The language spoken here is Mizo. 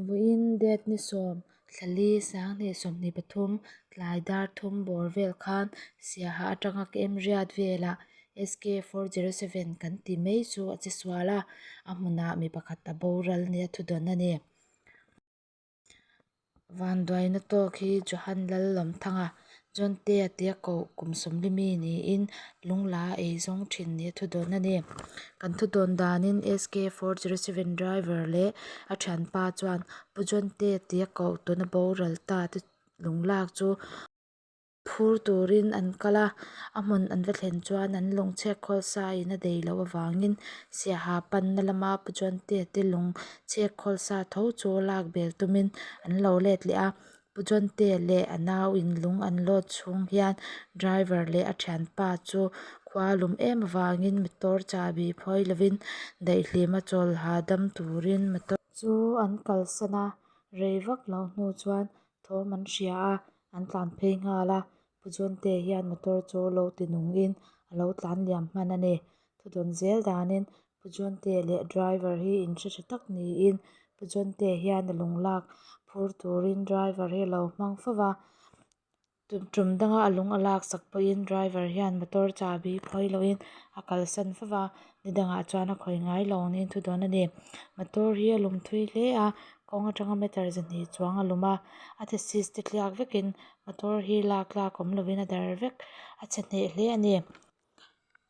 Vawiin date ni sawm, Hlali, Sanghnih sawmhnih pathum, tlai dar thum bawr vel khan Siaha atanga ka em riat velah SK four zero seven kan ti mai chu a che sual a, a hmunah mi pakhat a boral nia a thudawn a ni. Vanduaina tawk hi Johan Lal Lawmthanga Zawnte a tia koh kum sawmli mi niin lung la a ei zawng thin ni a thu dawn a ni. Kan thu dawn danin SK four zero seven driver leh a thian pa chuan Pu Zawnte a tia koh tuna boral ta te lung lak chu phur turin an kal a, a hmun an va thlen chuan an lawng chhek khawl sa in a dei loh avangin Siaha panna lama Pu Zawnte te lawng chhek khawl sa tho chu lak bel tumin an lo let leh a. Pu Chawntê leh a nau in lung an lâwt chhûng hian driver leh a ṭhianpa chu khua lum êm avângin motor châbi phawi lovin daihhlîma chawlha dam tûrin motor chu an kalsan a, rei vak loh hnu chuan thâwm an hria a, an tlân phei nghâl a. Pu Chawntê hian motor chu lo ti nungin a lo tlân liam hman a ni. Thudawn zêl dânin Pujonte leh driver hi in hre tha tak niin Pujonte hian a lung lak phur turin driver hi a lo hmang fo va. Tum danga a lung a laksak pawhin driver hian motor chabi khawi lohin a kalsan fo va. Nidangah chuan a khawi ngai lo angin thu dawn a ni. Motor hi a lum thui hle a kawng atanga meter ze hnih chuang a lum a. A the sis te tliak vekin motor hi lak lak awm lovin a dar vek a chhe hneh hle a ni.